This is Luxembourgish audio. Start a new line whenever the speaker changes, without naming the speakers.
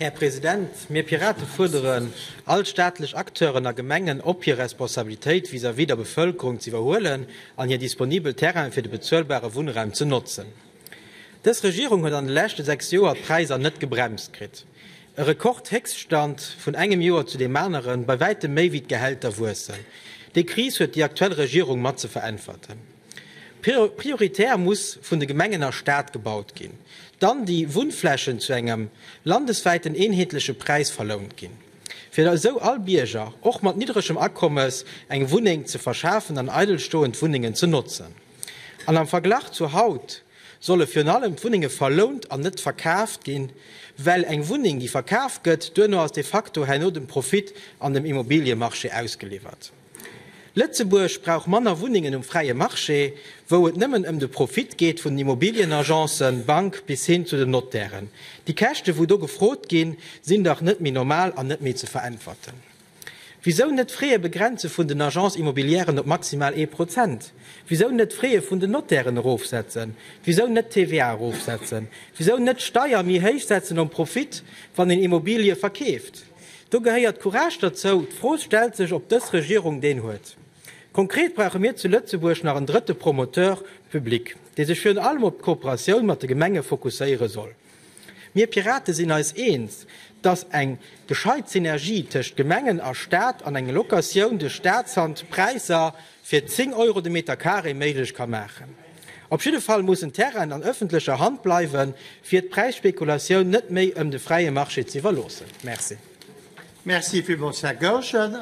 Här President, mir Pirate fuerderen all staatlech Acteuren a Gemengen op, hir Responsabilitéit vis-à-vis der Bevëlkerung z'iwwerhuelen an hir disponibel Terrainen fir de bezuelbare Wunnraum ze notzen. Dës Regierung huet an de leschte sechs Joer d'Präisser net gebremst kritt. E Rekordhéchststand, vun engem Joer zu deem aneren, bei wäitem méi wéi d'Gehälter wuessen. Déi Kris huet déi aktuell Regierung mat ze veräntwerten. Prioritär muss vun de Gemengen a Stad gebaut ginn, dann déi Wunnflächen zu engem landeswäiten eenheetleche Präis verlount ginn, fir esou all Bierger, och mat niddregem Akommes, eng Wunneng ze verschafen an eidel stoend Wunnengen ze notzen. An am Verglach zu haut solle virun allem d'Wunnenge verlount an net verkaaft ginn, well eng Wunneng, déi verkaaft gëtt, duerno ass de facto herno dem Profit an dem Immobiliemarché ausgeliwwert. Lëtzebuerg brauch manner Wunnengen um fräie Marché, wou et nëmmen ëm de Profit geet vun den Immobilienagencen, Bank bis hin zu den Notairen. Déi Käschte wou do gefrot ginn, sinn dach net méi normal an net méi ze veräntwerten. Wisou net d'Fraie begrenze vun den Agences immobilièren op maximal ee Prozent? Wisou net d'Fraie vun den Notairen erofsetzen? Wisou net d'TVA erofsetzen? Wisou net d'Steier méi héich setzen um Profit, wann een Immobilie verkeeft? Do gehéiert Courage derzou. D'Fro stellt sech, ob dës Regierung deen huet. Konkret brauche mir zu Lëtzebuerg nach en drëtte Promoteur public, dee sech virun allem op d'Kooperatioun mat de Gemenge fokusséiere soll. Mir Pirate sinn eis eens, dass eng gescheit Synergie tëscht Gemengen a Staat an eng Locatioun de Staatshand Präisser fir 10 Euro de Meter carré méiglech ka maachen. Op jidde Fall mussen Terrainen an ëffentlecher Hand bleiwen, fir d'Präisspekulatioun net méi
ëm de
fräie Marché
z'iwwerloossen.
Merci. Merci villmools, Här Goergen.